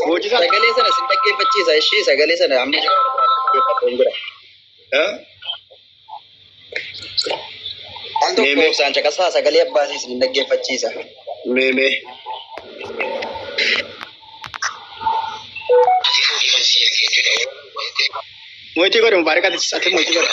Hojisa sagalee sana sin dhaggeeffachiisa ishii sagalee sana amma jira dhaggeeffadhu hin jira. Eh? Al tokko Meemee. ibsaan caqasaa sagalee abbaatii sin dhaggeeffachiisa. Mee mee. Moitii godhe mubaarakaati ati moitii godhe.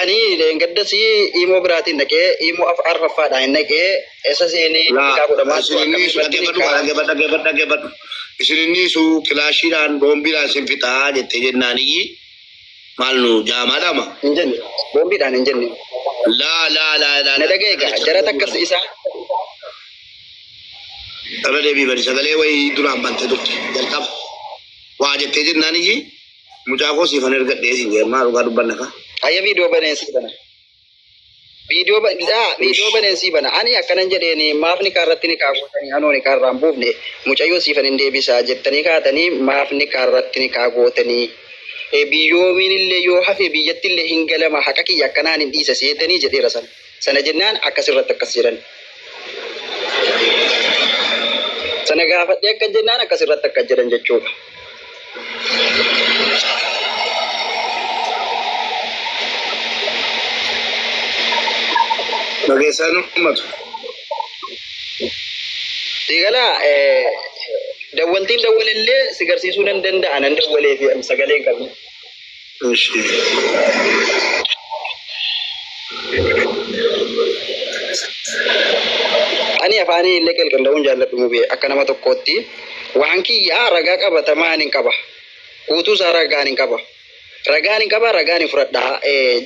Ani gaddas imoo biraatiin dhaqee imoo af arfaffaadhaan hin dhaqee isa seenee Laa, beekaa godhamaa isin inni akkamii isu biratti dhaggeeffadhu kaa dhaggeeffadhu dhaggeeffadhu dhaggeeffadhu. Isin inni isu kilaashiidhaan boombiidhaan isin fixaa jettee jennaan iyyi maal nu jaamaa dhama. hin jenne boombiidhaan hin jenne Laa laa laa laa. na dhaga'e gaa jara takkas isaa Irra deebii bari sagalee wayii duraan bantee turte jalqaba. Waa jettee jennaan iyyi Mucaa koo siifan ergadhee siin jedhe maa dhugaa dubbanna kaa. Ayya viidiyoo baneensii bana. Viidiyoo ba- daa, viidiyoo baneensii bana. Ani akkanan jedheeni maaf nikaa irratti nikaa gootanii anoo nikaa irraa hin buufne mucayyoo siifan hin deebisaa jettanii kaatanii maaf nikaa irratti nikaa gootanii. E, biyyoomiin illee yoo hafe biyyatti illee hin galama haqa kiyya akkanaan hin dhiisa seetanii jedheera sana. Sana jennaan akkas irratti akkas jedhan. Sana gaafadhee akkas jennaan akkas irratti akkas jedhan jechuudha. Dhageessaan uummatu. Diigala dawwaltiin dawwalellee si garsiisuu nan danda'a nan dawwalee fi sagalee hin qabu. Eshi. Ani afaanii illee qelqella'uun jaalladhu mubee akka nama tokkootti waan kiyyaa ragaa qabatamaa hin qaba. Guutuu isaa ragaan hin qaba. Ragaan hin qaba ragaan hin fudhadha.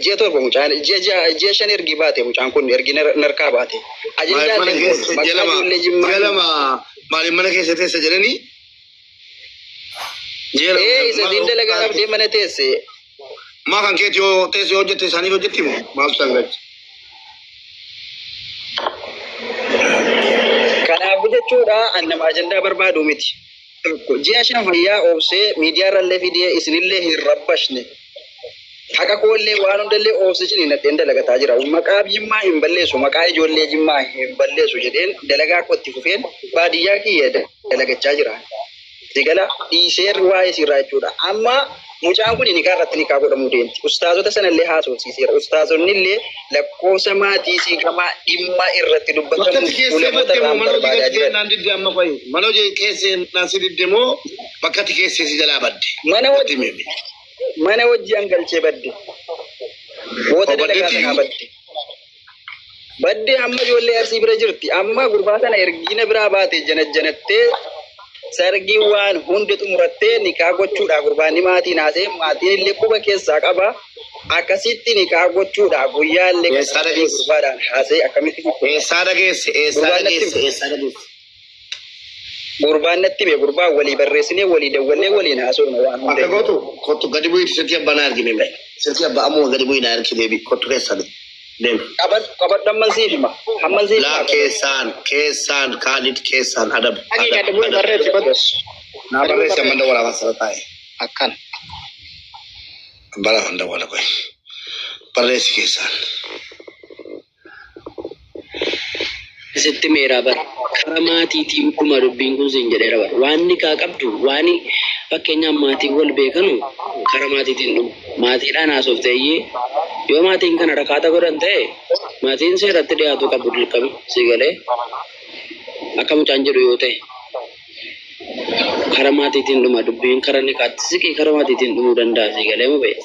Ji'a torba mucaan ji'a shan ergi baate mucaan kun ergi narkaa baate. Ajajaa illee maqaa ijoollee jimmaa. Maaliif mana keessa teessa jedhanii Jeera Ee isa siin dalagaa qabdee mana teesse. Maa kan keeti yoo teessi yoo hojjette isaanii hojjetti moo maaf isaan gachi. Kanaaf jechuudha an nama ajandaa barbaadu miti. Tokko ji'a shan fayyaa obsee miidiyaa irrallee fidee isinillee hin rabbashne. Haqa koollee waan hundallee oobse cini nadheen dalagataa jira. Maqaab Jimmaa hin balleessu, maqaa ijoollee Jimmaa hin balleessu jedheen dalagaa koo itti fufeen baadiyyaa kiyya dalagachaa jira. Sigala dhiiseer waa'ee siirraa jechuudha. Amma mucaan kun nikaa irratti nikaa godhamuu deemti. Ustaazota sanallee haasofsiiseera. Ustaazonnillee lakkoofsa maatii siiqamaa dhimma irratti dubbatamu Bakkatti keessee ulamoota baddee moo irraan manoo barbaadaa jigaltee jiran. naan didde amma fa'i. Manoo keessee naan si didde moo bakkatti keessee si jalaa badde. Mana Natti wajji himi. mana wajji an galchee badde. Boota Obbo dalagaa Baddeetti kanaa iyyuu. badde. Badde amma ijoollee arsii bira jirti. Amma gurbaa sana ergiina biraa baate janajjanattee sargii waan hunda xumurattee nikaa gochuudha gurbaan ni maatiin haasee maatiin illee quba keessaa qaba. Akkasitti nikaa gochuudha guyyaa illee Eessaa dhageesse? gurbaadhaan haasee akkamitti Eessaa dhageesse? Eessaa Gurbaan natti dhageesse? himi. Eessaa dhageesse? Gurbaan natti hime gurbaan walii barreessinee walii dawwallee waliin haasofna waan hunda. Akka gootu kottu gadi bu'iitu silkii abbaa naa ergime mee. Silkii abbaa ammuma gadi bu'ii naa ergi deebi kottu keessan deemi. Qabad qabad hamman siif hima hamman siif Laa hima. keessaan keessaan kaalid keessaan adab Agi adab gadi bu'ii adab. barreessi kottu. Naa barreessi amma dawwala waan sana taa'e. Akkan. Bara kan dawwala qoy. Barreessi keessaan. sitti meera bar kara maatiitii dhuguma dubbiin kun siin jedheera bar waan nikaa qabdu waan fakkeenyaaf maatiin wal beekanu kara maatiitiin dhugu maatiidhaan haasofte iyyee yoo maatiin kana rakaata godhan ta'e maatiin seeratti dhiyaatuu qabu dirqama sii galee akka mucaan jedhu yoo ta'e kara maatiitiin dhuma dubbiin kara nikaatti siqii kara maatiitiin dhumuu danda'a sii galee mubee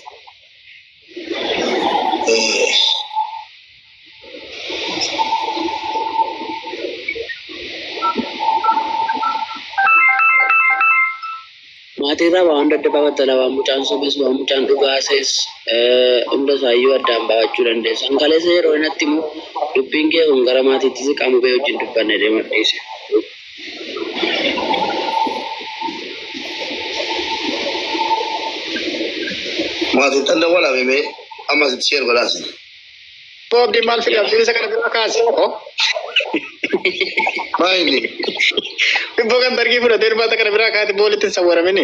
Maatiirraa waa hunda adda baafattala waan mucaan sobes waan mucaan dhugaa sees hunda isaayyuu addaan baafachuu dandeessa. Kan kaleessa yeroo inatti immoo dubbiin kee kun gara maatiitti siqamu bee wajjin dubbanne deema dhiise. Maatiin xanna wal hamimee ammas itti sheer godhaasa. Boo abdiin maal fide abdiin isa kana biraa kaase hoo. Maayini Bibboo kan dargii fudhatee irbaata kana biraa kaate boolitti hin sawwaramini.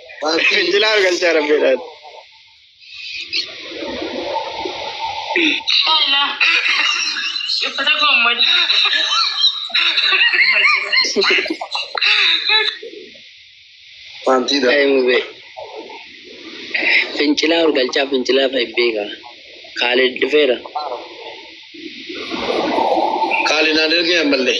Jilaa galchaa rabbeedhaan. Uffata koo malee. Wanti dha. Mubee. Fincilaa ol galchaa fincilaa fa'i beeka. Kaalid dhufeera. Kaalid naan ergee ammallee.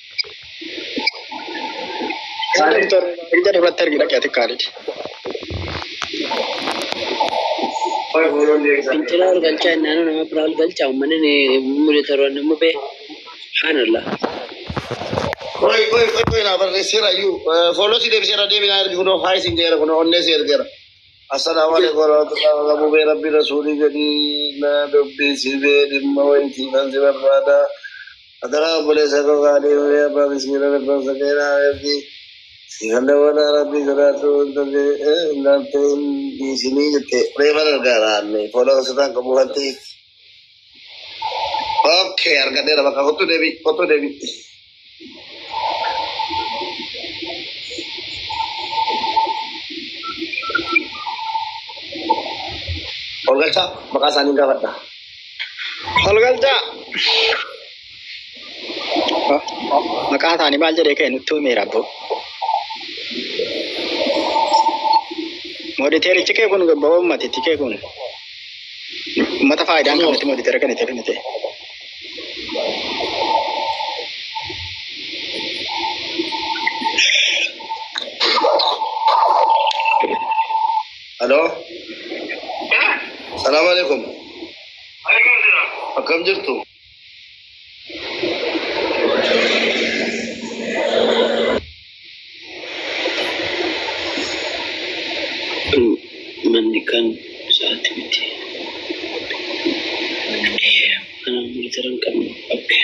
Kaalid Torbeedaa irratti argina qe'ati Kaalid. Fincila ol galchaa innaan nama biraa ol galchaa uummanni ni mudataroon ni mubee. Subhaanallah. Qoy qoy qoy qoy naa barreesseera iyyuu fooloo si deebiseera deebi naa ergi kunoo haay siin jedheera kunoo onnee si ergeera. Assalamu alaikum warahmatullahi wabarakatuh. Bubee Rabbi Rasuulii jedhii na dubbisi bee dhimma wayitii kan si barbaada. Adaraa obboleessa koo gaarii horii abbaa miskiina rabban sakeera abeerti. Siifallee walaa Rabbi sodaadhu intalli eh, ilaaltee hin dhiisinii jette. Reefan argaara anni. Fooloo sirraan qabu wanti. Okay, argadheera bakka kottu deebi kottu deebi. Olgalchaa maqaa isaanii gaafadha. Olgalchaa. Maqaa isaanii maal jedhee ka'e nutti himeera abboo. Mooditeerichi kee kun gabbaa uummatitti kee kun. Mata faayidaan kan nuti mooditera kan itti kennite. Halo. Salaam alaikum. Akkam jirtu? manni kan isaatti miti. Manaan miliitara hin qabnu. Okay.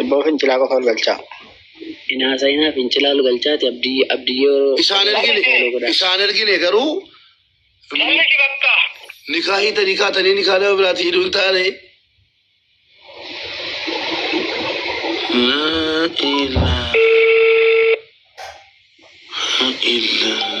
Ibboo fincilaa qofa ol galchaa. Inaasaa inaa fincilaa ol galchaati abdii abdii yeroo. Isaan ergine isaan ergine garuu nikaa hiita nikaa tanii nikaa nama biraati hidhuu hin taane. Laa ilaa ilaa.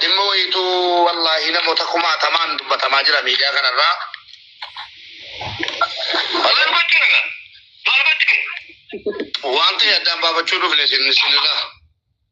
Dhimma wayiituu wallaahi namoota kumaatamaan dubbatamaa jira miidiyaa kanarraa. Waan ta'e addaan baafachuu dhufne isin isinirraa.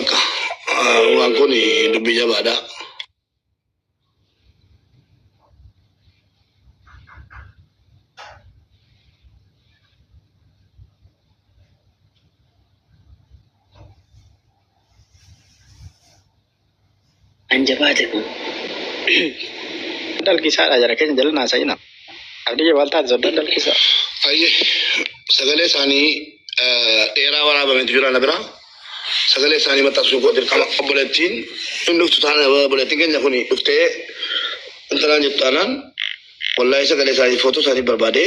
Akka waan kun dubbii jabaadha. Kan jabaate kun. Dalgisaadha jara keenya jala naasa'ina. Abdiyye maal taate soddaan dalgisaa. Ayye sagalee isaanii dheeraa waraabametu jira na bira. Sagalee isaanii maxxansuu koo dirqama obboleettiin hin dhuftu taana obboleettiin keenya kun dhuftee intalaan jettu taanaan wallaahi sagalee isaanii footuu isaanii barbaadee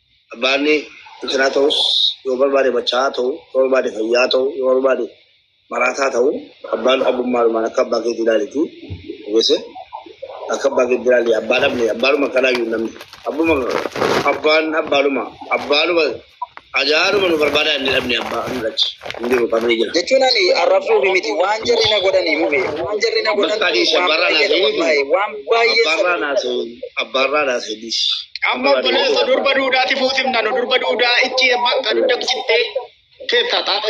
Barbaanni biqilaa ta'us yoo barbaade machaa'aa ta'u, yoo barbaade fayyaa ta'u, yoo barbaade maraataa ta'u abbaan abbummaadhumaan akka abbaa keetii ilaalitii ogeesse akka abbaa keetii ilaali abbaa dhabne abbaadhuma kanaayyuu namni abbuma abbaan abbaadhuma abbaadhuma ajaa'aadhuma nu barbaadaa inni dhabne abbaa nu dhachi hin jiru qabrii jira. jechuun ani arrabsuufi miti waan jarri na godhanii mube waan jarri na godhan Bakka adii shamarran waan baay'ee asii. wallahi, waan Abbaarraa naasuu abbaarraa naasuu dhiis. Amma obboleessa durba duudaati fuusimna nu durba duudaa itti bakka dugda cittee teetta xaadha